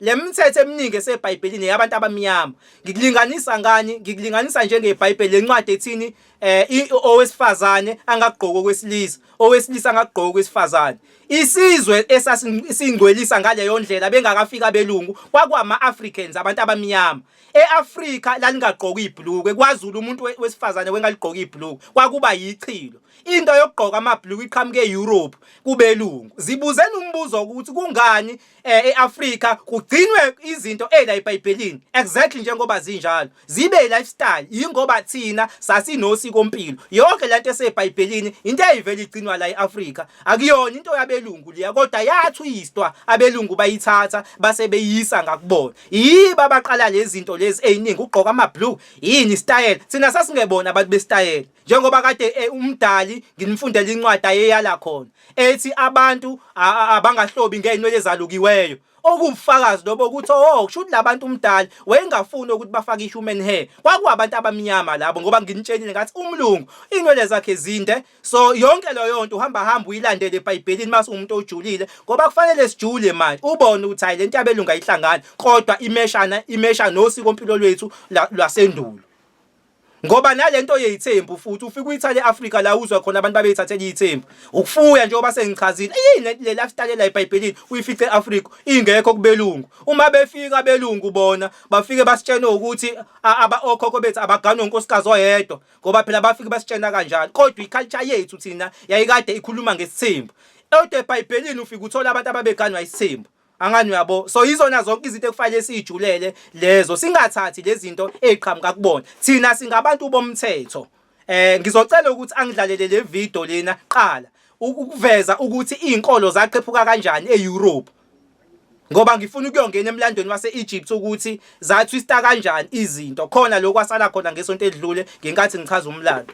Le mithetho eminingi eseBhayibhelini yabantu abamnyama. Ngikulinganisa ngani? Ngikulinganisa njengeBhayibheli lencwadi ethini eh owesifazane angagqoki okwesilisa, owesilisa angagqoki okwesifazane. Isizwe esasingcwelisa ngaleyo ndlela bengakafika abelungu kwakwama-Africans abantu abamnyama. E-Afrika lalingagqoki ibhulukwe, kwaZulu umuntu wesifazane wengaligqoki ibhulukwe, kwakuba yichilo. Into yokugqoka amabhulukwe iqhamuke e-Europe kubelungu. Zibuzeni umbuzo ukuthi kungani eh eAfrika kugcinwe izinto ela eBhayibhelini exactly njengoba zinjalo zibe lifestyle ingoba thina sasinosiko mpilo yonke lento eseBhayibhelini into eyivela igcinwa la eAfrika akuyona into yabelungu liya kodwa yathwistwa abelungu bayithatha base beyisa ngakubona yiba baqala lezi zinto lezi eziningi ugqoka ama blue yini style thina sasingebona abantu bestyle njengoba kade eh, umdali nginimfundela incwadi ayeyala khona ethi abantu abangahlobi ngeyinwele ezalukiweyo okuwufakazi lobo ukuthi oh kusho ukuthi labantu umdali wayengafuni ukuthi bafake i-human hair kwakuwabantu abamnyama labo ngoba nginitshelile ngathi umlungu inwele zakhe zinde so yonke leyo nto uhamba hamba uyilandele ebhayibhelini mase umuntu ojulile ngoba kufanele sijule manje ubone ukuthi hayi lento yabelunga ihlangana kodwa imeshana imesha nosiko mpilo lwethu lwasendulo ngoba nalento yeyithembu futhi ufika uyithale eAfrika la uzwa khona abantu babeyithathela iyithembu ukufuya njengoba sengichazile yini le lifestyle la eBhayibhelini uyifice eAfrika ingekho kubelungu uma befika belungu bona bafike basitshena ukuthi aba okhokho bethu abaganwe unkosikazi oyedwa ngoba phela bafike basitshena kanjalo kodwa iculture yethu thina yayikade ikhuluma ngesithembu Kodwa eBhayibhelini ufike uthola abantu ababeganwa isithembu Angani uyabo so yizona zonke izinto ekufanele sijulele lezo singathathi lezinto eziqhamuka kubona thina singabantu bomthetho eh ngizocela ukuthi angidlalele le video lena qala ukuveza ukuthi izinkolo zaqephuka kanjani eEurope ngoba ngifuna ukuyongena emlandweni wase-Egypt ukuthi zathwista kanjani izinto khona lokwasala khona ngesonto edlule ngenkathi ngichaza umlando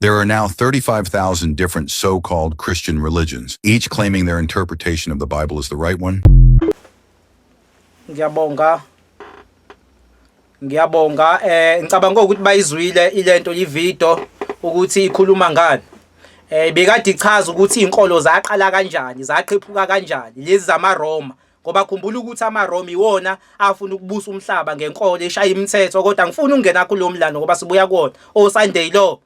There are now 35,000 different so-called Christian religions, each claiming their interpretation of the Bible is the right one. Ngiyabonga. Ngiyabonga. Eh ngicabanga ukuthi bayizwile ilento ivideo ukuthi ikhuluma ngani. Eh bekade ichaza ukuthi izinkolo zaqala kanjani, zaqhephuka kanjani lezi zamaRoma. ngoba khumbula ukuthi amaRoma iwona afuna ukubusa umhlaba ngenkolo eshaya imithetho kodwa ngifuna ukungena kulo mlando ngoba sibuya kuwona oSunday lo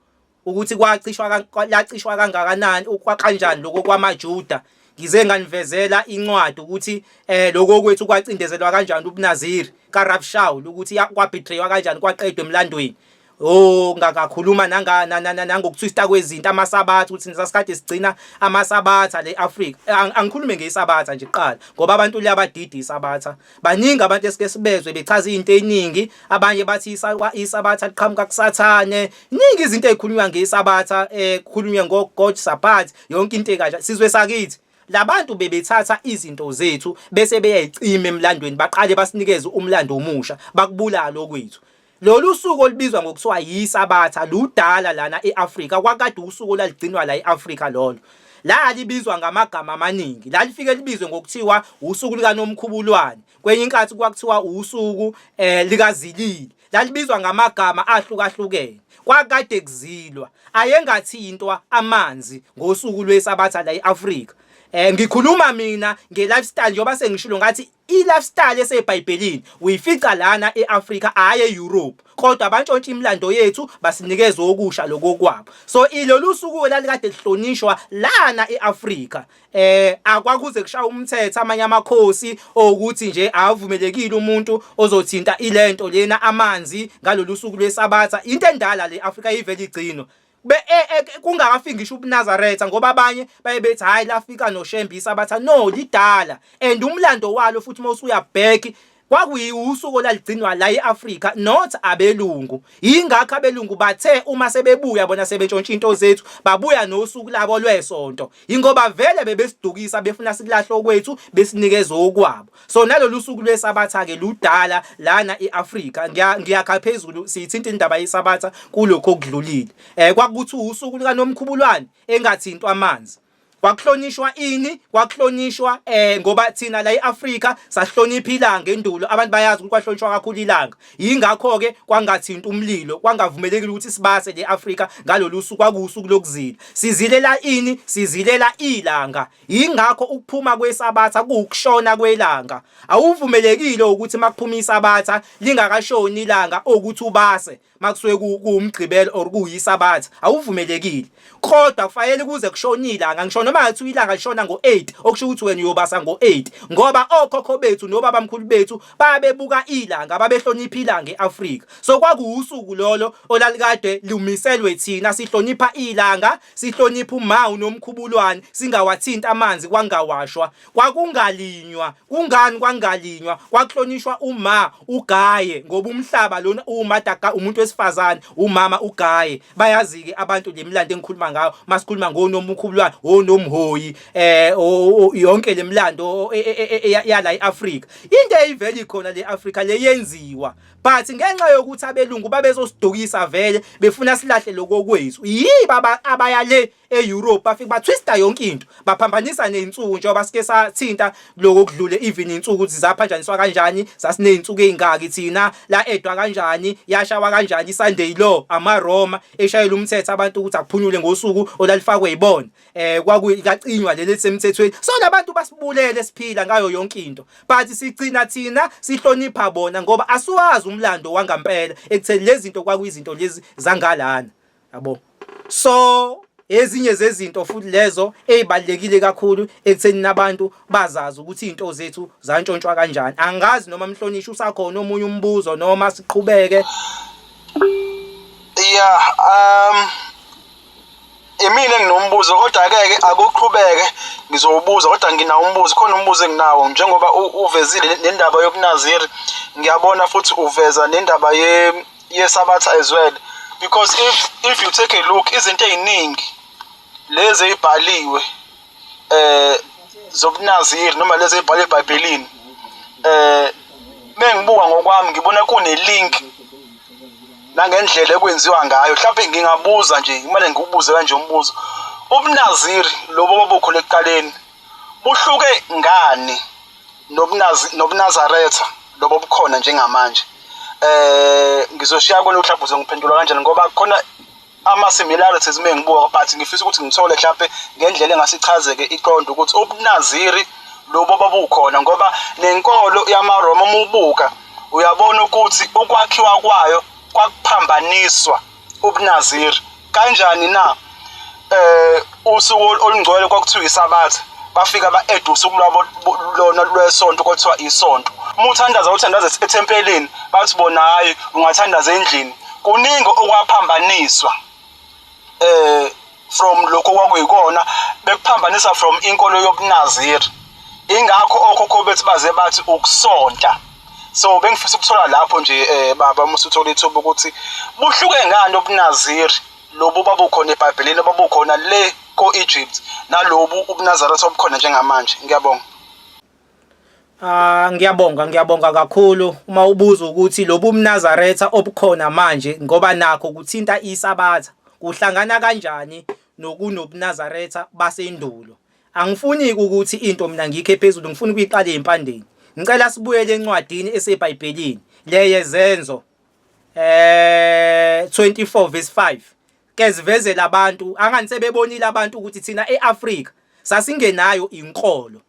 ukuthi kwacishwa lacishwa kangakanani ukwaqanjani lokho kwamaJuda ngize nganivezela incwadi ukuthi eh lokho kwethu kwacindezelwa kanjani ubunaziri kaRab Shaul ukuthi kwabetraywa kanjani kwaqedwa emlandweni Oh ngakakhuluma nanga nangokutwista kwezinto amasabatha ukuthi sasikade sigcina amasabatha le Africa angikhulume ngesabatha nje kuqala ngoba abantu liyabadida isabatha baningi abantu esike sibezwe bechaza izinto eziningi abanye bathi isabatha liqhamuka kusathane iningi izinto ezikhulunywa ngesabatha eh kukhulunywe ngo God Sabbath yonke into ekahle sizwe sakithi labantu bebethatha izinto zethu bese beyayicima emlandweni baqale basinikeze umlando omusha bakubulala okwethu Lolu suku olubizwa ngokuthiwa yiSabatha ludala lana e-Afrika kwakade usuku olaligcinwa la e-Afrika lolo lalibizwa ngamagama amaningi lalifike libizwe ngokuthiwa usuku likaNomkhubulwane kwenye inkathi kwakuthiwa usuku eh likazilili lalibizwa ngamagama ahlukahlukene kwakade kuzilwa ayengathintwa amanzi ngosuku lwesabatha la e-Afrika eh ngikhuluma mina nge-lifestyle njengoba sengishilo ngathi I-lifestyle eseBhayibhelini uyifica lana e-Afrika hhayi e-Europe kodwa bantshontsha imilando yethu basinikeza okusha lokokwabo so ilolu suku elalikade lihlonishwa lana e-Afrika eh akwakuze kushaya umthetho amanye amakhosi okuthi nje avumelekile umuntu ozothinta ilento lena amanzi ngalolu suku lwesabatha into endala le Afrika ivele igcino be e, e, kungakafiki ngisho ubunazaretha ngoba abanye baye bethi hayi lafika noshembisa abatha no lidala and umlando walo futhi uma usuyabheki kwakuyiwusuku olaligcinwa la e-Afrika not abelungu yingakho abelungu bathe uma sebebuya bona sebentshontsha into zethu babuya nosuku labo lwesonto ingoba vele bebesidukisa befuna sikulahlo kwethu besinikeza okwabo so nalolu suku lwesabatha-ke ludala lana e-afrika ngiyakha phezulu siyithinta indaba yesabatha kulokhu okudlulile um kwakuthi usuku likanomkhubulwane engathintwa amanzi kwakuhlonishwa ini kwakuhlonishwa eh ngoba thina la eAfrika sahlonipha ilanga endulo abantu bayazi ukuthi kwahlonishwa kakhulu ilanga yingakho ke kwangathinta umlilo kwangavumelekile ukuthi sibase le Afrika ngalolu suku kwakusuku lokuzila sizilela ini sizilela ilanga Yingakho ukuphuma kwesabatha kuwukushona kwelanga. Awuvumelekile ukuthi makuphuma isabatha lingakashoni ilanga ukuthi ubase makusuke kuwumgqibelo or kuyisabatha awuvumelekile. Kodwa kufanele kuze kushone ilanga ngisho noma ngathi ilanga lishona ngo-8 okusho ukuthi wena uyobasa ngo-8 ngoba okhokho bethu nobaba mkhulu bethu babebuka ilanga babehlonipha ilanga e-Afrika. So kwakuwusuku lolo olalikade lumiselwe thina sihlonipha ilanga Sihloniphe uMawu noMkhubulwane singawathinti amanzi kwangawashwa, kwakungalinywa. Kungani kwangalinywa? Kwakuhlonishwa uMa uGaye ngoba umhlaba lona uwuMadaga umuntu wesifazane, uMama uGaye. Bayazike abantu le mlando engikhuluma ngayo masikhuluma ngoNomukhubulwane, oNomhoyi eh yonke le mlando e, e, e, yala eAfrika. Into eyiveli khona le Afrika le yenziwa but ngenxa yokuthi abelungu babezosidukisa vele befuna silahle lokho kwethu yii baba abaya le e-Europe bafike batwista yonke into baphambanisa nezinsuku njengoba sike sathinta lokho kudlule even insuku ukuthi zaphanjaniswa kanjani sasinezinsuku ezingaki thina la edwa kanjani yashawa kanjani iSunday law amaRoma eshayela umthetho abantu ukuthi akuphunyule ngosuku olalifakwe yibona eh kwakuyikacinywa leli lisemthethweni so labantu basibulele siphila ngayo yonke into but sigcina thina sihlonipha bona ngoba asiwazi umlando wangampela ekutheni lezi zinto kwakuyizinto lezi zangalana yabo so ezinye zezinto futhi lezo ezibalekile kakhulu ekutheni nabantu bazazi ukuthi izinto zethu zantshontshwa kanjani angazi noma mhlonishwa usakhona omunye umbuzo noma siqhubeke yeah um imina enginombuzo kodwa akeke akuqhubeke ngizowubuza kodwa nginawo umbuzo khona umbuzo enginawo njengoba uvezile nendaba yobunaziri ngiyabona futhi uveza nendaba ye yesabatha as well because if if you take a look izinto eziningi lezi ezibhaliwe eh zobunaziri noma lezi ezibhalwe ebhayibhelini eh mengibuka ngokwami ngibona kune-link nangendlela ekwenziwa ngayo mhlawumbe ngingabuza nje kumele ngikubuze kanje umbuzo ubunaziri lobo babukhona ekuqaleni buhluke ngani nobunazaretha lobo bukhona njengamanje eh ngizoshiya kona mhlawumbe uzongiphendula kanjani ngoba khona ama-similarities uma ngibuka but ngifisa ukuthi ngithole mhlawumpe ngendlela engase ichazeke iqonde ukuthi ubunaziri lobo babukhona ngoba nenkolo yamaroma uma ubuka uyabona ukuthi ukwakhiwa kwayo kwakuphambaniswa ubunaziri kanjani na um usuku olungcwele kwakuthiwa isabatha bafika ba-eda usuku lwabo lona lwesonto kwathiwa isonto uma uthandaza uthandaza ethempelini bathi bona hhayi ungathandaza endlini kuningi okwaphambaniswa um from lokho kwakuyikona bekuphambanisa from inkolo yobunaziri ingakho okhokho bethu baze bathi ukusonta so bengifisa ukuthola lapho nje um baba uma usuthola ithuba ukuthi buhluke ngani obunaziri lobu babukhona ebhayibhelini ababukhona le ko-egypt nalobu ubunazaretha obukhona njengamanje ngiyabonga Ah ngiyabonga ngiyabonga kakhulu uma ubuza ukuthi lobu mnazaretha obukhona manje ngoba nakho kuthinta isabatha kuhlangana kanjani nokunobunazaretha basendulo angifuni ukuthi into mina ngikhe phezulu ngifuna ukuyiqala empandeni ngicela sibuyele encwadini esebhayibhelini leyezenzo eh 24 verse 5 kezivezela abantu angani sebebonile abantu ukuthi thina eAfrika sasingenayo inkolo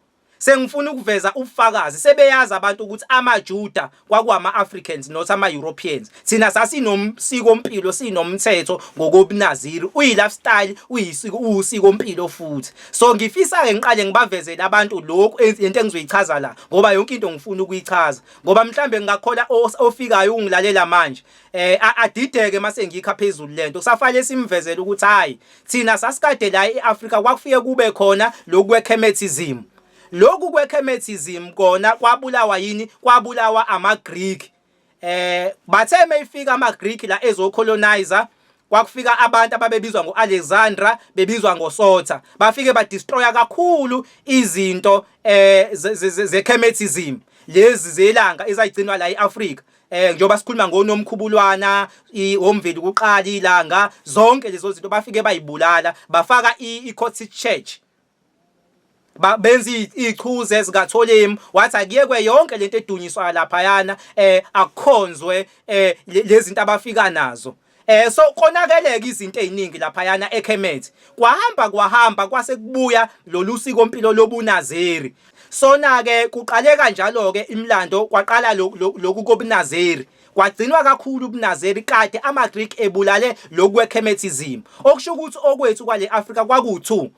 sengifuna ukuveza ubufakazi sebeyazi abantu ukuthi amaJuda kwakuwama Africans not ama Europeans thina sasinomsiko mpilo sinomthetho ngokobunaziri uyi lifestyle uyisiko usiko mpilo futhi so ngifisa ke ngiqale ngibavezele abantu lokho into engizoyichaza la ngoba yonke into ngifuna ukuyichaza ngoba mhlambe ngingakhola ofikayo ungilalela manje eh adideke mase ngikha phezulu lento kusafale simvezela ukuthi hayi thina sasikade la eAfrika kwakufike kube khona lokwekhemethism lokhu kwekhemethism kona kwabulawa yini kwabulawa amaGreek eh bathe mayifika amaGreek la ezocolonizer kwakufika abantu ababebizwa ngo-alexandra bebizwa ngosotha bafike badistroya kakhulu izinto um eh, zechemetism lezi zelanga ezayigcinwa la e-afrika eh njengoba sikhuluma ngonomkhubulwana omveli kuqala ilanga zonke lezo zinto bafike bayibulala bafaka i-Cottage Church benza ichuze ezikatholimi wathi akuyekwe yonke lento edunyiswa laphayana eh akukhonzwe eh lezinto abafika nazo eh so konakeleke izinto eziningi laphayana eKhemethi kwahamba kwahamba kwase kubuya lolu siko impilo lobunazeri sona ke kuqale kanjalo ke imlando kwaqala lokhu kobunazeri kwagcinwa kakhulu ubunazeri kade amaGreek ebulale lokwekhemethizim okusho ukuthi okwethu kwale Afrika kwaku2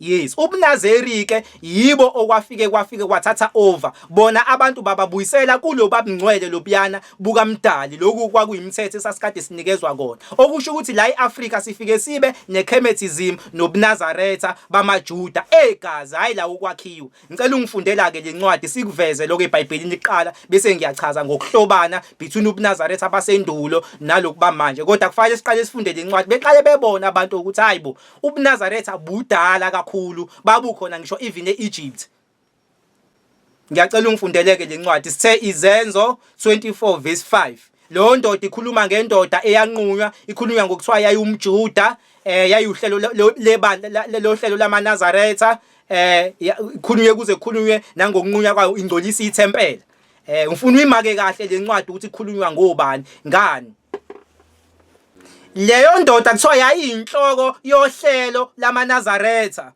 Yes, ubunazeri ke yibo okwafike kwafike kwathatha over. Bona abantu bababuyisela kulo babungcwele lobuyana bukamdali lokhu kwakuyimithetho esasikade sinikezwa kona. Okusho ukuthi la eAfrika sifike sibe neKhemethism nobuNazaretha bamaJuda egazi hayi la ukwakhiwa. Ngicela ungifundela ke lencwadi sikuveze lokho eBhayibhelini liqala bese ngiyachaza ngokuhlobana between ubuNazaretha basendulo nalokuba manje. Kodwa kufanele siqale sifunde lencwadi beqale bebona abantu ukuthi hayibo ubunazaretha budala kakhulu babukhona ngisho even e-egypt ngiyacela ungifundeleke le ncwadi sithe izenzo 24 verse 5 leyo ndoda ikhuluma ngendoda eyanqunywa ikhulunywa ngokuthiwa yayiwumjuda eh yayuhlelo lebandla lohlelo lamanazaretha eh ikhulunywe kuze khulunywe nangokunqunywa kwayo ingcolisa ithempela eh ngifuna uyimake kahle le ncwadi ukuthi ikhulunywa ngobani ngani leyo ndoda kuthiwa yayiyinhloko yohlelo lamanazaretha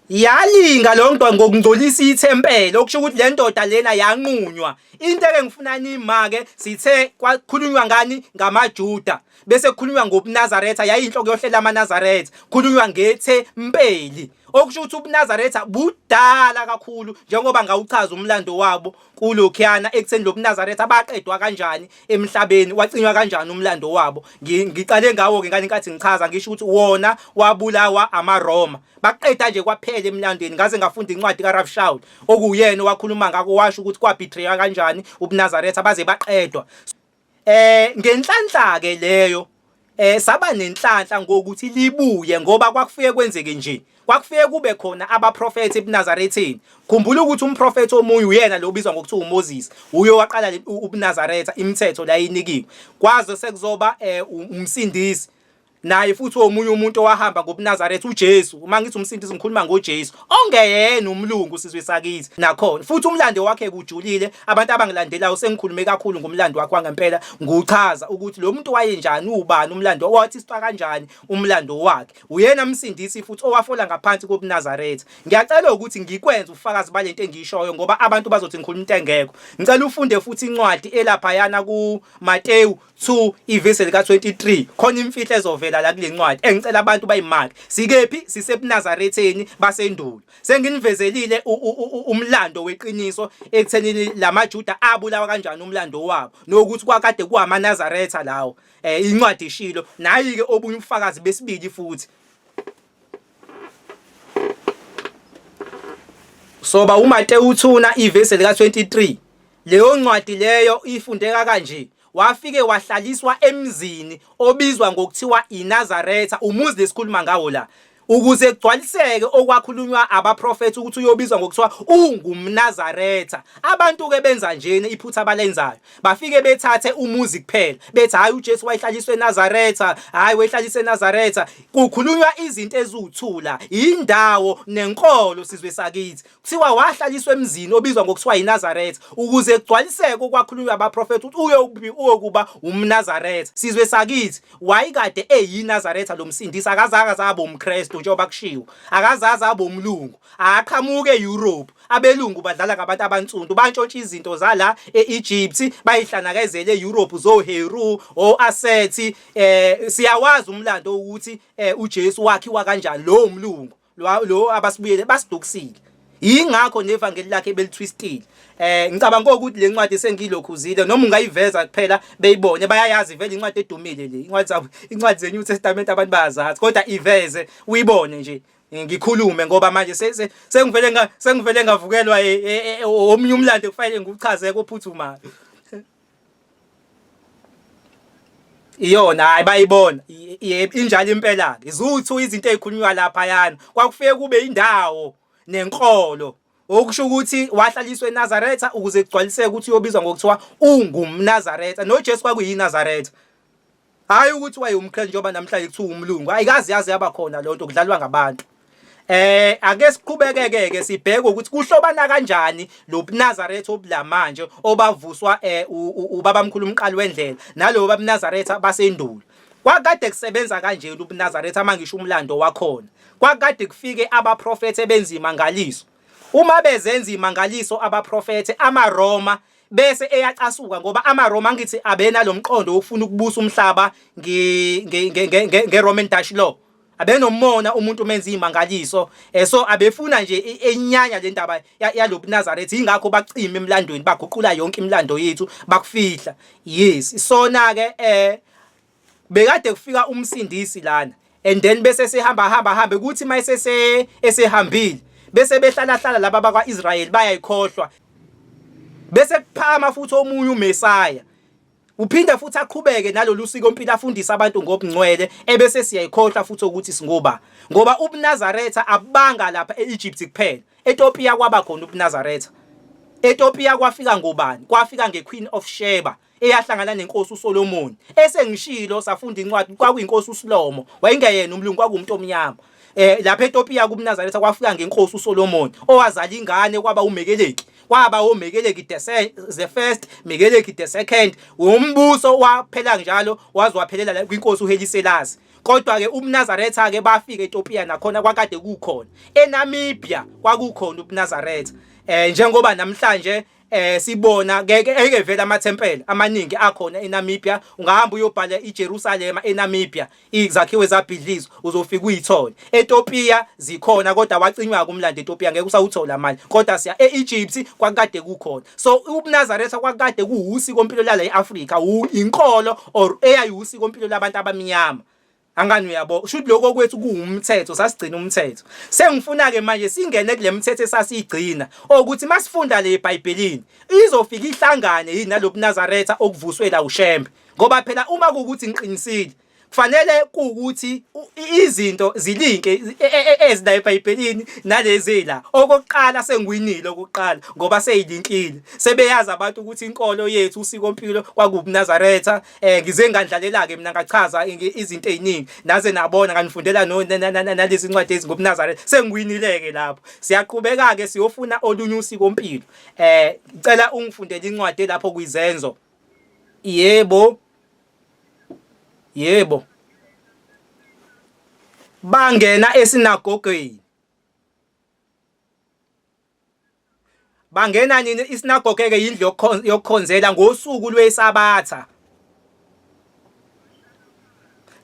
yalinga lo ndoda ngokungcolisa ithempeli okusho ukuthi le ndoda lena yanqunywa into eke ngifuna nima-ke sithe kwakhulunywa ngani ngamajuda bese kukhulunywa ngobunazaretha yayiyinhloko yohlela amanazaretha kukhulunywa ngethempeli okusho ukuthi ubunazaretha budala kakhulu njengoba ngawuchaza umlando wabo kulokhiyana ekutheni lo bunazaretha baqedwa kanjani emhlabeni wacinywa kanjani umlando wabo ngiqale ngawo-ke ngane nkathi ngichaza ngisho ukuthi wona wabulawa amaroma baqeda nje kwaphela emlandweni ngaze ngafunda incwadi karaf shaul okuwuyena owakhuluma ngako washo ukuthi kwabhithreya kanjani ubunazaretha baze baqedwa Eh ngenhlanhla ke leyo eh saba nenhlanhla ngokuthi libuye ngoba kwakufike kwenzeke nje kwakufike kube khona abaprofethi ebuNazaretheni khumbula ukuthi umprofethi omunye uyena lo ubizwa ngokuthi uMoses uyo waqala ubuNazaretha imithetho la inikiwe kwaze sekuzoba eh, umsindisi naye futhi omunye umuntu owahamba ngobuNazaretha uJesu uma ngithi umsindisi ngikhuluma ngoJesu ongeyena umlungu sizwe sakithi nakhona futhi umlando wakhe kujulile abantu abangilandelayo sengikhulume kakhulu ngomlando wakhe wangempela nguchaza ukuthi lo muntu wayenjani ubani umlando wathi siqa kanjani umlando wakhe uyena msindisi futhi owafola ngaphansi kobuNazaretha ngiyacela ukuthi ngikwenze ufakazi balento engiyishoyo ngoba abantu bazothi ngikhuluma into engekho ngicela ufunde futhi incwadi elapha yana ku Mateyu 2 ivesi lika-23 khona imfihlo ezovela la kule ncwadi engicela abantu bayimake sikephi sisebunazaretheni basendulo senginivezelile umlando weqiniso ekutheni la majuda abulawa kanjani umlando wabo nokuthi kwakade kuwamanazaretha lawo um incwadi ishilo nayi-ke obunye ubufakazi besibili futhi Soba uMate uthuna ivesi lika 23 leyo ncwadi leyo ifundeka kanje wafike wahlaliswa emzini obizwa ngokuthiwa iNazaretha umuzi lesikhuluma ngawo la ukuze kugcwaliseke okwakhulunywa abaprofethi ukuthi uyobizwa ngokuthiwa ungumNazaretha abantu ke benza njena iphutha abalenzayo bafike bethathe umuzi kuphela bethi hayi uJesu wayehlaliswe eNazaretha hayi wehlaliswe eNazaretha kukhulunywa izinto eziwuthula indawo nenkolo sizwe sakithi kuthiwa wahlaliswa emzini obizwa ngokuthiwa iNazaretha ukuze kugcwaliseke okwakhulunywa abaprofeti ukuthi uye uyokuba umNazaretha sizwe sakithi wayikade eyiNazaretha lomsindisi akazazi azabe umKristu njengoba kushiwo akazazi abe umlungu aqhamuke eEurope Abelungu badlala ngabantu abansundu bantshontsha izinto zala e-Egypt bayihlanakazele e-Europe zoHeru o-Asethi eh siyawazi umlando ukuthi eh, uJesu wakhiwa kanjani lowo mlungu lo abasibuyele basidukisile yingakho nevangeli lakhe belitwistile eh ngicabanga ukuthi le ncwadi sengilokhuzile noma ungayiveza kuphela beyibone bayayazi vele incwadi edumile le incwadi incwadi ze New Testament abantu bayazazi kodwa iveze uyibone nje ngikhulume ngoba manje sengivele sengivele ngavukelwa e, e, e, omunye umlando kufanele ngiwuchaze kophuthumayo iyona hayi bayibona injalo impela ke izuthu izinto ezikhulunywa lapha yana kwakufike kube indawo nenkolo okusho ukuthi wahlaliswa eNazaretha ukuze kugcwaliseke ukuthi uyobizwa ngokuthiwa ungumNazaretha noJesu kwakuyinazaretha Hayi ukuthi wayewumkre njengoba namhlanje kuthiwa umlungu. Ayikazi yaze yaba khona lonto kudlalwa ngabantu. Eh ake siqhubekeke ke sibheke ukuthi kuhlobana kanjani lo Nazareth obulamanje obavuswa eh ubaba mkhulu umqali wendlela nalowo baba Nazareth basendulo. Kwakade kusebenza kanje ubuNazareth amangisho umlando wakhona. Kwakade kufike abaprofethi ebenzima ngaliso. uma bezenza imangaliso abaprofethe amaRoma bese eyacasuka ngoba amaRoma ngithi abena lomqondo wokufuna ukubusa umhlaba ngeRoman Dutch law abenomona umuntu umenza imangaliso eh, so abefuna nje enyanya le ndaba yalobuNazaretha ingakho bacima emlandweni baguqula yonke imilando yethu bakufihla yes sona ke eh bekade kufika umsindisi lana and then bese sehamba hamba hambe kuthi mayise se esehambile bese behlala hlala laba bakwa Israel bayayikhohlwa bese kuphakama futhi omunye uMessiah uphinde futhi aqhubeke nalolu siko mpilo afundisa abantu ngobungcwele ebese siyayikhohlwa futhi ukuthi singoba ngoba ubuNazaretha abanga lapha eEgypt kuphela eTopia kwaba khona ubuNazaretha eTopia kwafika ngobani kwafika ngeQueen of Sheba eyahlangana nenkosi uSolomon esengishilo safunda incwadi kwakuyinkosi uSlomo wayengeyena umlungu kwakumuntu omnyama eh lapha eTopiya kuMnazaretha kwafika ngenkosi uSolomon owazala ingane kwaba uMekeleki kwaba uMekeleki the first Mekeleki the second umbuso waphela njalo wazwaphelela kwinkosi uHeliselasi kodwa ke uMnazaretha ke bafika eTopiya nakhona kwakade kukhona eNamibia kwakukhona uMnazaretha eh njengoba namhlanje eh sibona ngeke eke vele amathempeli amaningi akhona eNamibia ungahamba uyobhala iJerusalem eNamibia izakhiwe zabhidlizwa uzofika uyithole eTopia zikhona kodwa wacinywa kumlando eTopia ngeke usawuthola mali kodwa siya eEgypt kwakade kukhona so ubuNazaretha kwakade kuwusi kompilo lala eAfrika inkolo or eyayiwusi kompilo labantu abamnyama Angani uyabo ushuthi lokho kwethu kuwumthetho sasigcina umthetho sengifuna ke manje singene kule mithetho esasigcina ukuthi masifunda le eBhayibhelini izofika ihlangane yini nalobuNazaretha okuvuswe la uShembe ngoba phela uma kukuthi ngiqinisile kufanele kuwukuthi izinto zilinke e, e, e, ezila eBhayibhelini nalezi la okokuqala sengiwinile okokuqala ngoba seyilinkile sebeyazi abantu ukuthi inkolo yethu usikompilo kwakubuNazaretha eh ngize ngandlalela ke mina ngachaza izinto eziningi naze nabona nganifundela no nalezi incwadi ezingobunazare sengiwinile ke lapho siyaqhubeka ke siyofuna olunye usiko mpilo eh ngicela ungifundele incwadi lapho kuyizenzo yebo yebo bangena esinagogeni Bangena nini isinagoge ke yindlu yokukhonzela ngosuku lwesabatha.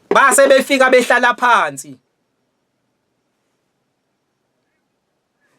Base befika behlala phansi.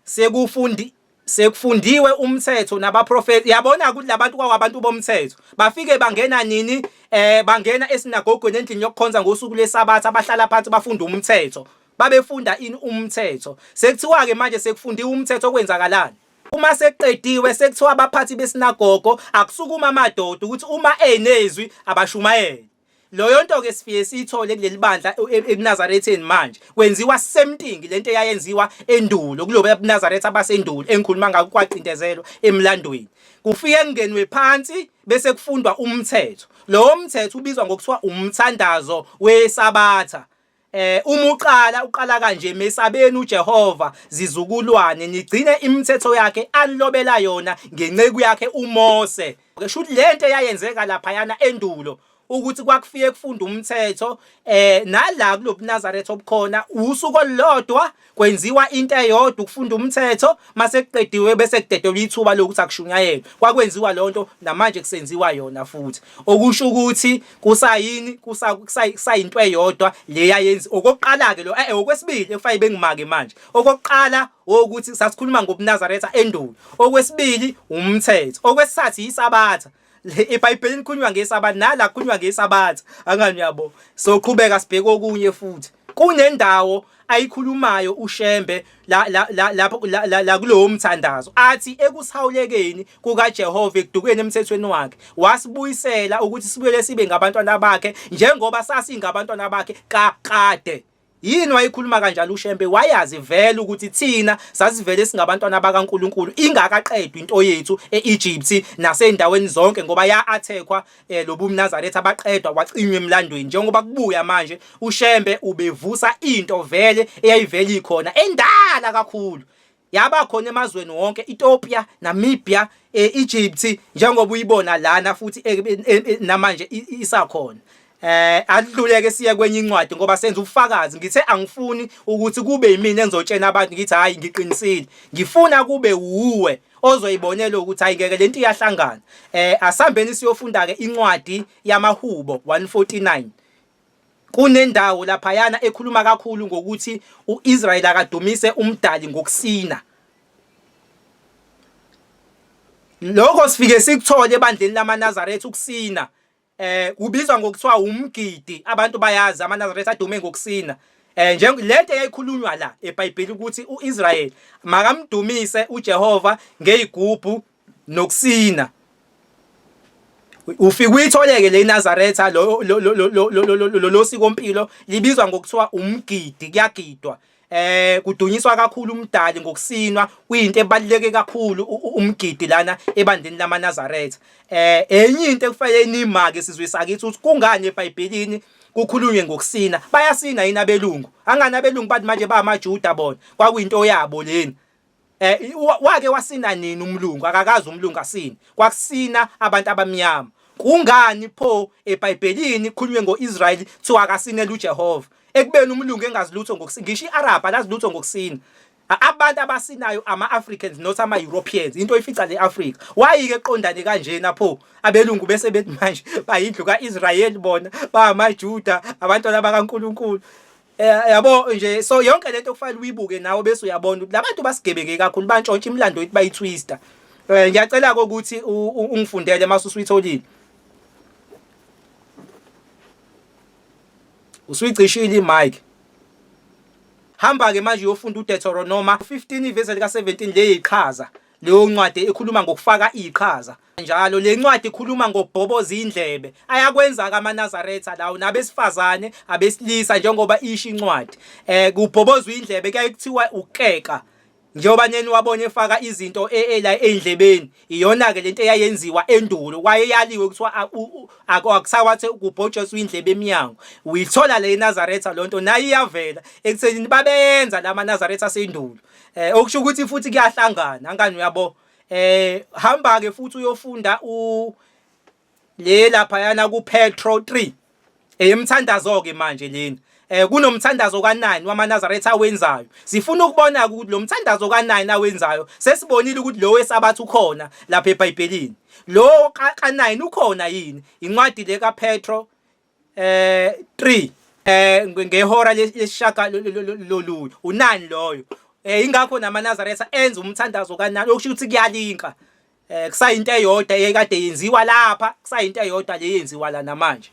Sekufundi sekufundiwe umthetho nabaprofeti yabona ukuthi labantu kwawabantu bomthetho bafike bangena nini eh bangena esinagogweni endlini yokukhonza ngosuku lwesabatha bahlala phansi bafunda umthetho babefunda ini umthetho sekuthiwa ke manje sekufundiwa umthetho okwenzakalani uma sekuqediwe sekuthiwa abaphathi besinagogo akusukuma amadoda ukuthi uma enezwi abashumayele loyo nto ke sifiye siyithole kuleli bandla e, e, ekunazaretheni manje kwenziwa semtingi lento eyayenziwa endulo kulobo ebunazaretha abasendulo engikhuluma ngakho kwaqindezelwa emlandweni kufike kungenwe phansi bese kufundwa umthetho lowo mthetho ubizwa ngokuthiwa umthandazo wesabatha Eh uma uqala uqala kanje mesabeni uJehova zizukulwane nigcine imithetho yakhe anilobela yona ngenceku yakhe uMose. Ngisho ukuthi lento eyayenzeka lapha yana endulo ukuthi kwakufike kufunda umthetho eh nala kulobuNazaretha obukhona usuku olulodwa kwenziwa into eyodwa ukufunda umthetho mase kuqediwe bese kudedelwa ithuba lokuthi akushunyayelwe kwakwenziwa lonto namanje kusenziwa yona futhi okusho ukuthi kusayini kusayinto eyodwa leya yenzi okokuqala ke lo eh, eh okwesibili ekufanele bengimake manje okokuqala ukuthi sasikhuluma ngobunazaretha endulo okwesibili umthetho okwesithathu yisabatha ebhayibhelini kukhulunywa ngesabatha nala kukhulunywa ngesabatha angani uyabo soqhubeka sibheke okunye futhi kunendawo ayikhulumayo uShembe la la la lapho la, la, la kulowo mthandazo athi ekusihawulekeni kukaJehova ekudukeni emthethweni wakhe wasibuyisela ukuthi sibuyele sibe ngabantwana bakhe njengoba sasingabantwana bakhe kakade Yini wayikhuluma kanjalo uShembe wayazi vele ukuthi thina sasivele singabantwana bakaNkuluNkulu ingakaqedwa into yethu eEgypt nasendaweni zonke ngoba ya-athekwa eh, lobumnazaretha abaqedwa wacinywa emlandweni njengoba kubuya manje uShembe ubevusa into vele eyayivele ikhona endala kakhulu Yaba khona emazweni wonke Ethiopia, Namibia, eh, Egypt njengoba uyibona lana futhi eh, eh, eh, eh namanje isakhona. Eh adluleke siye kwenye incwadi ngoba senza ubufakazi ngithe angifuni ukuthi kube yimina engizotshena abantu ngithi hayi ngiqinisile ngifuna kube wuwe ozoyibonela ukuthi hayi ngeke lento iyahlangana eh asambeni siyofunda ke incwadi yamahubo 149 Kunendawo laphayana ekhuluma kakhulu ngokuthi uIsrael akadumise umdali ngokusina. Lokho sifike sikuthole ebandleni lamaNazaretha ukusina eh kubizwa ngokuthiwa umgidi abantu bayazi amaNazaretha adume ngokusina eh nje lento eyayikhulunywa la eBhayibheli ukuthi uIsrael makamdumise uJehova ngezigubhu nokusina ufika uyitholeke le Nazareth lo lo lo lo lo lo sikompilo libizwa ngokuthiwa umgidi kuyagidwa eh kudunyiswa kakhulu umdali ngokusinwa kuyinto ebaluleke kakhulu umgidi lana ebandeni lamaNazaretha eh enye into ekufanele nimake sizwe sakithi ukuthi kungani eBhayibhelini kukhulunywe ngokusina bayasina yini abelungu angani abelungu bathi manje bamaJuda bona kwakuyinto yabo leni Eh wake wasina nini umlungu akakazi umlungu asini kwakusina abantu abamnyama kungani pho eBhayibhelini khulunywe ngoIsrael kuthiwa akasinele uJehova ekubeni umlungu engazi lutho ngokusina ngisho iArab alazi lutho ngokusina abantu abasinayo ama-africans not ama-europeans into oyifica le afrika wayike eqondane kanjena pho abelungu bese bethi manje bayindlu ka-israyeli bona bangamajuda abantwana bakankulunkulu Eh, yabo nje so yonke lento kufanele uyibuke nawe bese uyabona ukuthi labantu basigebeke kakhulu bantshontsha imlando yethu bayitwister eh ngiyacela ukuthi ungifundele mase usuyitholile usuyigcishile imic hamba ke manje uyofunda uDeuteronomy 15 ivesi lika 17 leyiqhaza Leyo ncwadi ikhuluma ngokufaka iqhaza njalo. Le ncwadi ikhuluma ngobhoboza indlebe ayakwenza-ke amaNazaretha lawo nabesifazane abesilisa njengoba isho incwadi um eh, kubhobozwa indlebe kuyaye kuthiwa ukukeka njengoba neni wabona efaka izinto e, e, la ey'ndlebeni iyona-ke le nto eyayenziwa endulo wayeyaliwe kuthiwa akusakwathi kubhotshoswa indlebe emnyango uyithola le enazaretha loo nto nayo iyavela ekuthenini babeyenza la manazaretha asendulo eh okusho ukuthi futhi kuyahlangana angani uyabo eh hamba ke futhi uyofunda u le lapha yana ku Petro 3 eyemthandazo ke manje lena eh kunomthandazo ka9 wamanazaretha awenzayo sifuna ukubona ukuthi lo mthandazo ka9 awenzayo sesibonile ukuthi lo wesabatha ukhona lapha eBhayibhelini lo ka9 ukhona yini incwadi le kaPetro eh 3 eh ngehora leshaka lolu unani loyo eh ingakho namaNazaretha enza umthandazo kanani okusho ukuthi kuyalinka eh kusayinto eyodwa ekade yenziwa lapha kusayinto eyodwa le yenziwa la namanje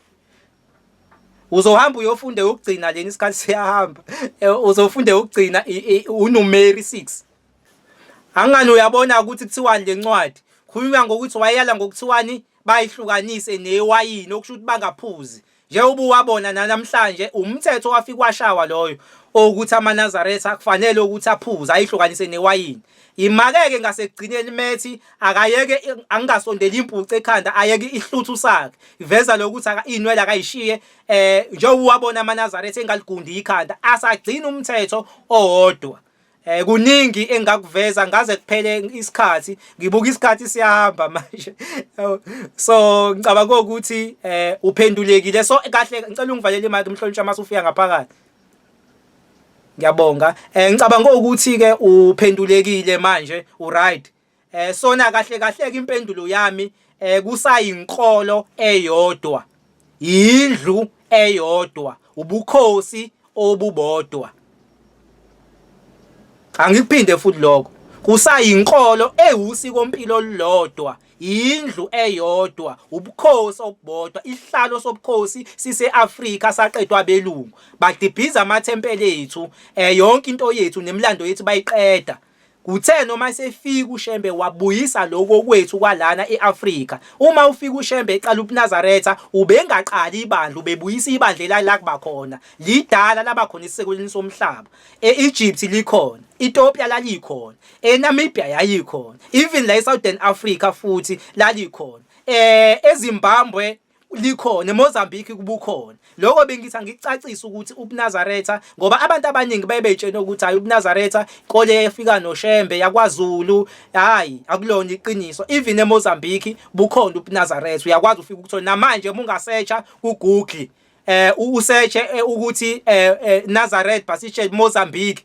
uzohamba uyofunde ukugcina leni isikhathi siyahamba eh, uzofunde ukugcina uNumeri 6 angani uyabona ukuthi kuthiwani lencwadi khuluma ngokuthi wayeyala ngokuthiwani bayihlukanise neyewayini okusho ukuthi bangaphuzi njengoba uwabona nanamhlanje umthetho wafika washawa loyo okuthi amanazaretha akufanele ukuthi aphuze ayihlukanise newayini imakeke ngasekugcineni methi akayeke angingasondeli impucu ekhanda ayeke ihluthu sakhe iveza lokuthi inwele akayishiye eh njengoba uwabona amanazaretha engaligundi ikhanda asagcina umthetho owodwa Eh kuningi engakuveza ngaze kuphele isikhathi ngibuka isikhathi siyahamba manje so ngicabanga ukuthi eh uphendulekile so kahle ngicela ungivalele imali umhlonishwa mase ufika ngaphakathi ngiyabonga eh ngicabanga ukuthi ke uphendulekile manje u right eh sona kahle kahle ke impendulo yami eh kusayinkolo eyodwa indlu eyodwa ubukhosi obubodwa angikuphinde futhi lokho kusayinkolo ewusiko mpilo lodwa indlu eyodwa ubukhosi obubodwa isihlalo sobukhosi siseAfrika saqedwa abelungu badibhiza amathempeli ethu eh yonke into yethu nemlando yethu bayiqeda Kuthe noma esefika uShembe wabuyisa lokhu okwethu kwalana e-Afrika. Uma ufika uShembe eqala ubuNazaretha, ubengaqali ibandla, ubebuyisa ibandla elalilakuba khona. Lidala laba khona esisekulini somhlaba. E-Egypt likhona, iTopia lalikhona, eNamibia yayikhona, even la eSouthern Africa futhi lalikhona. Eh eZimbabwe likhona eMozambique kubukhona lokho bengithi angicacisa ukuthi ubuNazaretha ngoba abantu abaningi baye beyitshena ukuthi hayi ubuNazaretha kole efika noShembe yakwaZulu hayi akulona iqiniso even eMozambique bukhona ubuNazaretha uyakwazi ufika ukuthola namanje uma ungasetsha kuGoogle eh usetshe eh, ukuthi eh, eh, Nazareth Basishe Mozambique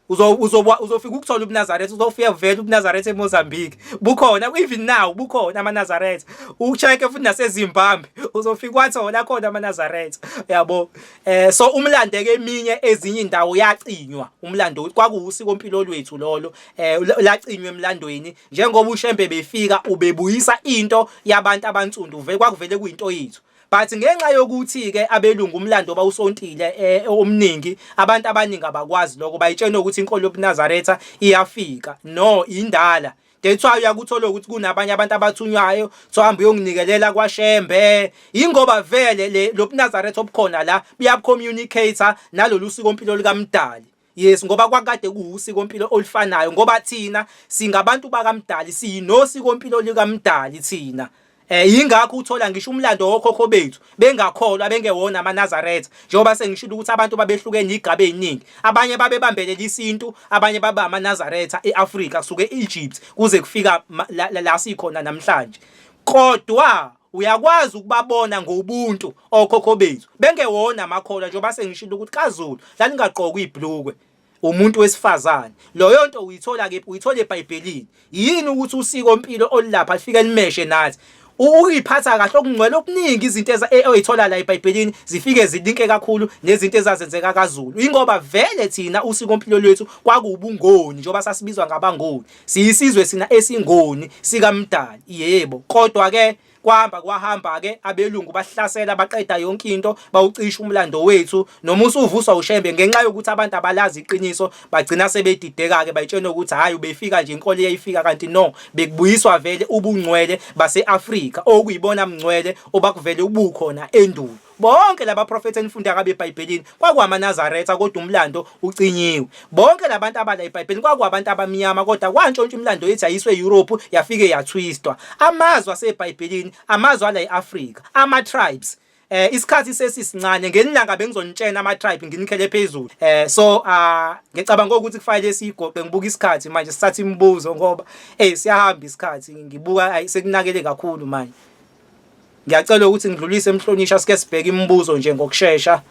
uzofika ukuthola ubunazaretha uzofika vele ubunazaretha emozambique bukhona even now bukhona amanazaretha ucheck futhi nasezimbabwe uzofika wathola khona amanazaretha yabo eh so umlandeke eminye ezinye indawo yacinywa umlando kwakuwusiko mpilo lwethu lolo eh lacinywa emlandweni njengoba ushembe befika ubebuyisa into yabantu abansundu vele kwakuvele kuyinto yethu But ngenxa yokuthi ke abelungu umlando bawusontile eh, omningi abantu abaningi abakwazi lokho bayitshenwe ukuthi inkolo yobuNazaretha iyafika no indala that's why uyakuthola ukuthi kunabanye abantu abathunywayo sohamba uyonginikelela kwaShembe ingoba vele le lobuNazaretha obukhona la buyabcommunicator nalolu siko mpilo likaMdali Yes ngoba kwakade kuwusiko mpilo olifanayo ngoba thina singabantu bakamdali siyinosiko mpilo likamdali thina Eh yingakho uthola ngisho umlando wokhokho bethu bengakholwa bengewona amaNazaretha njengoba sengishilo ukuthi abantu babehlukene igaba eziningi abanye babebambelela isintu abanye baba amaNazaretha eAfrika kusuke eEgypt kuze kufika la, la, la sikhona namhlanje kodwa Uyakwazi ukubabona ngobuntu okhokho bethu bengewona amakholwa njengoba sengishilo ukuthi kaZulu lalingaqokwa ibhlukwe umuntu wesifazane loyo nto uyithola kephi uyithola ebhayibhelini yini ukuthi usiko mpilo olilapha lifike limeshe nathi uyiphatha kahle okungcwele okuningi izinto e, oyithola la ebhayibhelini zifike zilinke kakhulu nezinto ezazenzeka kaZulu ingoba vele thina usiko mpilo lwethu kwakuwubungoni njengoba sasibizwa ngabangoni Siyisizwe sina esingoni sikaMdali, yebo, kodwa ke kwahamba kwahamba ke abelungu bahlasela baqeda yonke into bawucisha umlando wethu noma usuvuswa ushembe ngenxa yokuthi abantu abalazi iqiniso bagcina sebedideka ke bayitshena ukuthi hayi ubefika nje inkolo yayifika kanti no bekubuyiswa vele ubungcwele baseAfrika okuyibona mngcwele obakuvele ubukhona endulo Bonke laba profetha enifunda kabe eBhayibhelini kwakuwamaNazaretha kodwa umlando ucinyiwe. Bonke labantu abala eBhayibhelini kwakuwabantu abamnyama kodwa kwantshontsha umlando ethi ayiswe eYurophu yafike yathwistwa. Amazwi aseBhayibhelini amazwi ala eAfrika, ama-tribes. Eh isikhathi sesisincane ngenilanga bengizonitshena ama tribe nginikhele phezulu. Eh so ah ngicabanga ukuthi kufanele sigoqe ngibuka isikhathi manje sithatha imibuzo ngoba eh siyahamba isikhathi ngibuka ayisekunakele kakhulu manje. Ngiyacela ukuthi ngidlulise emhlonisha sike sibheke imibuzo nje ngokushesha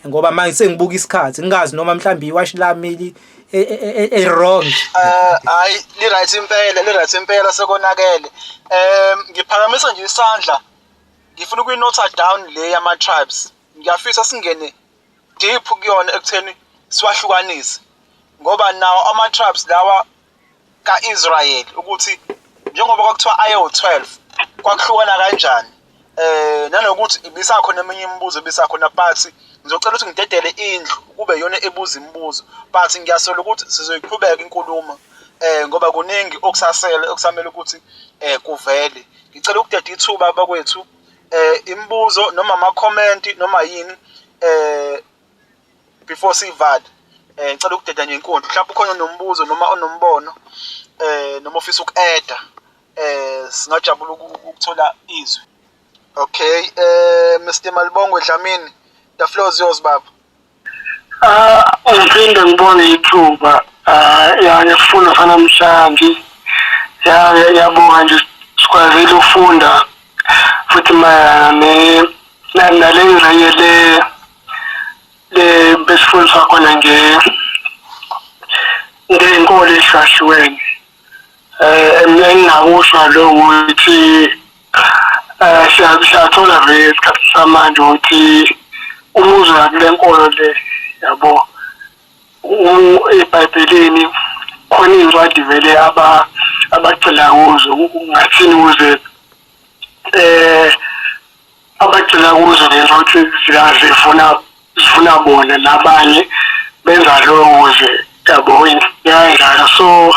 ngoba manje sengibuka isikhathi ngingazi noma mhlawumbe iwashi lami e, e, e, e-wrong eh, hayi li-right impela li-right impela sekonakele um ngiphakamisa nje isandla ngifuna ukuyinotha down le yama-tribes ngiyafisa singene deep kuyona ekutheni siwahlukanise ngoba nawo ama-tribes lawa kaIsrayeli ukuthi njengoba kwakuthiwa ayewu-12 kwakuhlukana kanjani eh nanokuthi ibisakhona eminye imibuzo ebisakhona but ngizocela ukuthi ngidedele indlu kube yona ebuza imibuzo but ngiyasola ukuthi sizoyiqhubeka inkulumo eh ngoba kuningi okusasele okusamele ukuthi eh kuvele ngicela ukudeda ithuba bakwethu eh imibuzo noma ama comment noma yini eh before sivale eh ngicela ukudedanya inkundla mhlawumbe ukhona onombuzo noma onombono eh noma ofisa uku-adda eh singajabula ukuthola izwi okay eh Mr Malibongwe Dlamini the floor is yours baba ah ngiphinde ngibone ithuba ah ya ngifuna fanamhlanje ya yabonga nje sikwazile ukufunda futhi mayelana ne naleyo naye le le besifundiswa khona nge ngenkolo ehlahliweni um eh, engingakusho lo ukuthi um siyathola ve esikhathi samanje ukuthi umuzi wakule nkolo le yabo ebhayibhelini khona iy'ncwadi vele abagxila kuzo ungathini ukuze um abagxila kuzo lento ukuthi zikazifuna zifuna bona nabanye benza loyo kuze yabo yayidlala so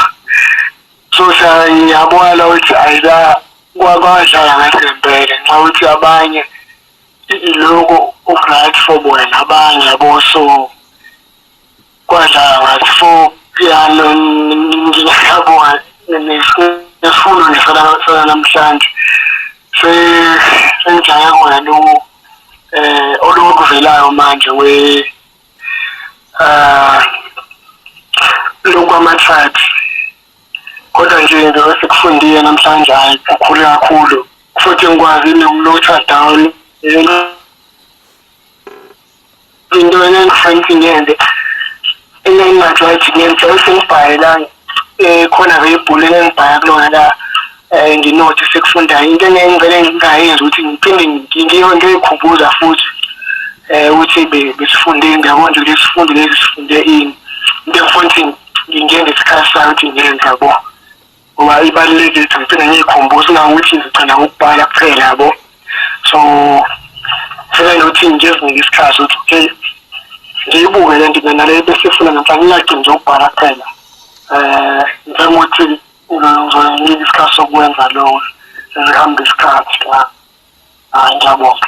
so siyabona ukuthi ayila kwakwadlala ngathi ngempela ngenxa ukuthi abanye iloko ugrad for bona abanye yabo so Kwadlanga before piano ngiyabonga nesifundo ngisalanasana namhlanje sengijaye kona lo um eh, olokuvelayo manje we um lokwama-tribes kodwa nje into esikufundile namhlanje hhayi kukhulu kakhulu futhi ngikwazi nokulotha down into enangifanele ngiyenze enengathi wathi ngenze usengibhaye la eh khona ke ibhulu engibhaya kulona la eh nginothi sekufunda into engengivele ngingayenza ukuthi ngiphinde ngiyo into ekhumbuza futhi eh ukuthi besifunde ngiyabona ukuthi lesifundo lesi sifunde ini into engifuna ukuthi ngingene isikhathi sami ukuthi ngenza bo ngoba ibalulekile ukuthi ngiphinda ngiyikhumbuze nangokuthi ngigcina ngokubhala kuphela yabo so ngifuna nokuthi ngizinike isikhathi ukuthi okay ngiyibuke le nto mina le bese ifuna ngempela ngingagcini nje ukubhala kuphela um ngifuna ukuthi ngizonike isikhathi sokwenza lowo zihambe isikhathi la hayi ngiyabonga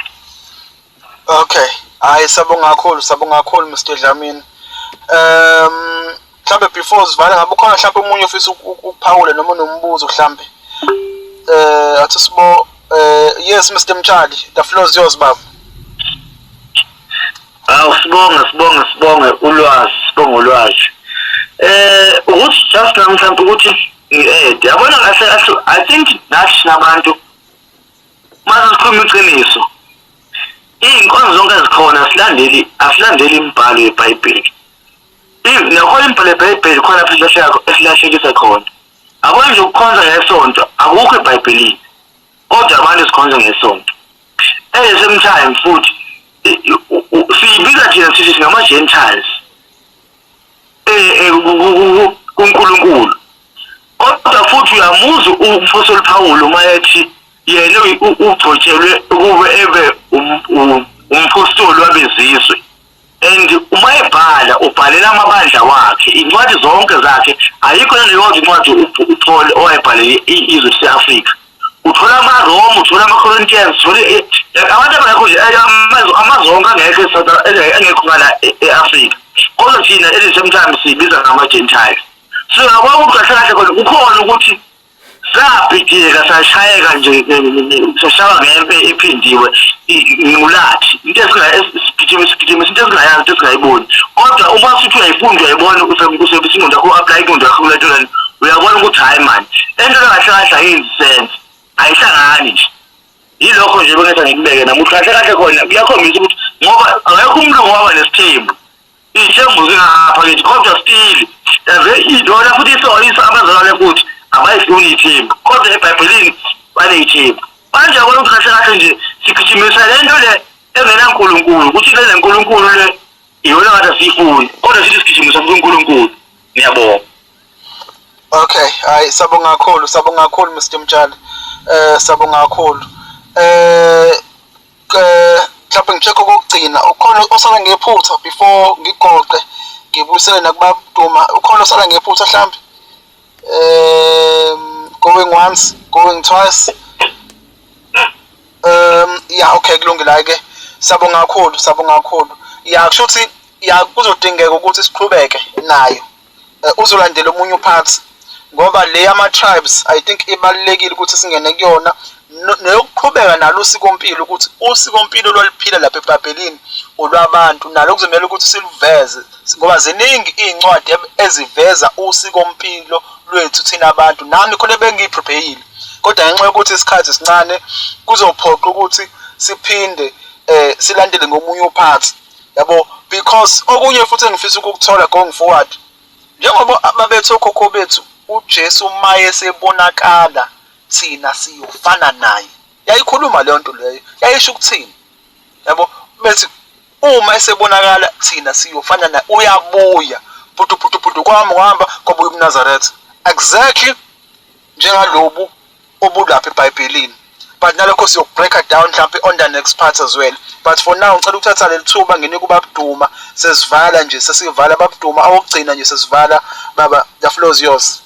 okay hayi sabonga kakhulu sabonga kakhulu Mr Dlamini um mhlambe before sivala ngabe ukhona mhlambe umunye ofisa ukuphawula noma unombuzo mhlambe eh athi sibo eh yes Mr Mtshali the floor is yours baba Awu sibonge sibonge sibonge ulwazi sibonge ulwazi eh ukuthi just namhlanje ukuthi ngiede yabona kahle kahle i think nathi nabantu Manje sikhuluma iqiniso. Izinkonzo zonke ezikhona silandeli asilandeli imibhalo yeBhayibheli. Nakho imibhalo yeBhayibheli khona futhi esilahlekisa khona. Akwenje nje ukukhonza ngesonto akukho eBhayibhelini. Kodwa abantu sikhonza ngesonto. At the same time futhi siyibiza thina sithi singama-Gentiles. eh, eh, kuNkulunkulu kodwa futhi uyamuzwa umphostoli Pawulu uma ethi yena ugcotshelwe ukuba ebe um, um, umphostoli wabezizwe and uma ebhala ubhalela amabandla wakhe incwadi zonke zakhe ayikho neyodwa incwadi uPaul owayebhalele izwe lase-Afrika uthola amaroma uthola amacorinthians uthola abantu abangekho nje amazwe onke angekho engekho ngala e-afrika kodwa thina elisemthambi siyibiza ngama-gentiles so yabona ukuthi kahle kahle khona kukhona ukuthi sabhideka sashayeka nje sashaywa ngempe ephindiwe ingculathi into esigijima sigijima into esingayazi into esingayiboni kodwa uma sithi uyayifunda uyayibona usebesinqondo yakho u-aplay inqondo yakho kuletolani uyabona ukuthi hayi mani lento kahle kahle ayenzi sense ayihlangani nje yilokho nje bengeza ngikubeke namuhla kahle kahle khona kuyakhombisa ukuthi ngoba akekho umuntu ongaba nesithembu iy'thembu zingapha kithi kodwa stili yaze idona futhi isoyisa abazalwane futhi abayifuni iy'thembu kodwa ebhayibhelini baney'thembu manje abona ukuthi kahle kahle nje sigijimisa le nto le engenankulunkulu ukuthi le nenkulunkulu le iyona ngathi asiyifuni kodwa sithi sigijimisa futhi unkulunkulu ngiyabonga Okay, hayi sabonga kakhulu, sabonga kakhulu Mr Mtshali. Eh sabonga kakhulu. Eh eh mhlawumbe ngicheck okugcina ukhona osala ngephutha before ngigoqe ngibuyisele nakuba Duma ukhona osala ngephutha mhlawumbe. Um going once, going twice. Um yeah okay kulungile ke. Sabonga kakhulu, sabonga kakhulu. Yeah kusho ukuthi yeah kuzodingeka ukuthi siqhubeke nayo. Eh, uzolandela omunye upart ngoba le yama-tribes i think ibalulekile ukuthi singene kuyona neyokuqhubeka nalo usikompilo ukuthi usikompilo lwaliphila lapha ebhabhelini olwabantu nalo kuzomele ukuthi siluveze ngoba ziningi iy'ncwadi eziveza usikompilo lwethu thina abantu nami khona bengiyiprepeyile kodwa ngenxa yokuthi isikhathi sincane kuzophoqa ukuthi siphinde um silandele ngomunye uphathi yabo because okunye futhi engifisa ukukuthola going forward njengoba babethu okhokho bethu uJesu maye sebonakala thina siyofana naye yayikhuluma leyo nto leyo yayisho ukuthini yabo bethi uma esebonakala thina siyofana naye uyabuya putu putu putu kwami uhamba kwabuya umnazaretha exactly njengalobu obulapha ebhayibhelini but nalokho siyokubreaker down mhlawumbe on the next part as well but for now ngicela ukuthatha leli thuba nginike ubabuduma sesivala nje sesivala babuduma awokugcina nje sesivala baba the floor is yours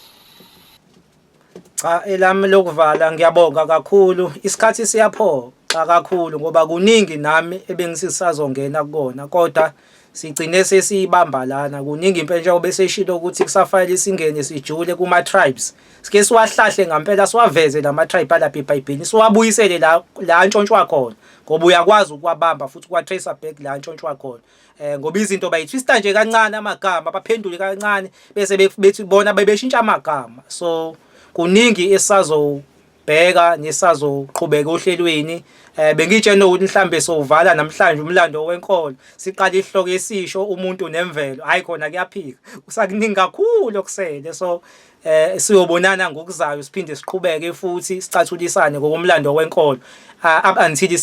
cha elami lokuvala ngiyabonga kakhulu isikhathi siyaphoxa kakhulu ngoba kuningi nami ebengisisazongena kukona kodwa sigcine sesiyibamba lana kuningi impela njengoba beseshilo ukuthi kusafanele singene sijule kuma-tribes sike siwahlahle ngampela siwaveze la ma-tribe alapha ebhayibhelini siwabuyisele la la antshontshwa khona ngoba uyakwazi ukuwabamba futhi ukuwa-tracer back la antshontshwa khona um ngoba izinto bayithwista nje kancane amagama baphendule kancane bese bethi bona bebeshintsha amagama so kuningi esisazo bheka nisazoqhubeka ohlelweni eh bengitshena ukuthi mhlambe sovala namhlanje umlando wenkolo siqala ihloko esisho umuntu nemvelo hayi khona kuyaphika usakuningi kakhulu okusele so eh siyobonana ngokuzayo siphinde siqhubeke futhi sicathulisane ngokomlando wenkolo ah, up until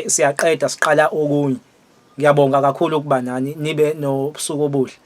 siyaqeda siqala okunye ngiyabonga kakhulu ukuba nani nibe nobusuku obuhle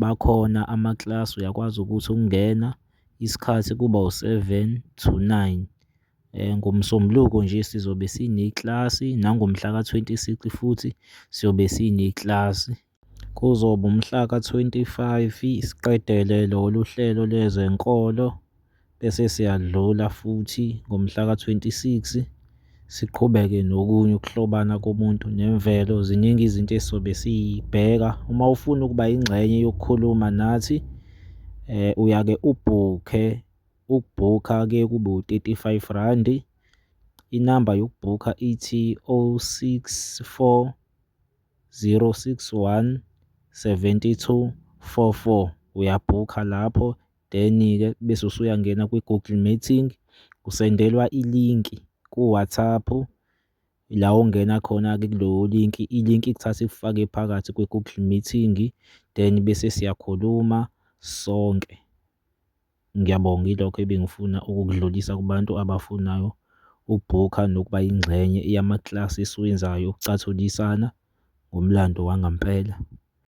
Bakhona amakilasi uyakwazi ukuthi ukungena isikhathi kuba u-seven to nine. NgoMsombuluko nje sizobe sinekilasi nangomhlaka twenty six futhi siyobe sinekilasi. Kuzoba umhlaka twenty-five siqedele lolu hlelo lwezenkolo bese siyadlula futhi ngomhlaka 26 siqhubeke nokunye ukuhlobana komuntu nemvelo ziningi izinto esizobe siyibheka uma ufuna ukuba ingxenye yokukhuluma nathi eh uyake ubhukhe ukubhukha ke kube u35 rand inamba yokubhukha ithi 064 061 7244 uyabhukha lapho Then-ke bese usuyangena kwi-Google Meeting, usendelwa ilinki ku-WhatsApp la ongena khona-ke kulowo linki, ilinki ikuthatha ikufake phakathi kwi-Google Meeting then bese siyakhuluma sonke. Ngiyabonga ilokho ebengifuna ukukudlulisa kubantu abafunayo ukubhukha nokuba yingxenye yamaklasi esiwenzayo okuthathulisana ngomlando wangampela.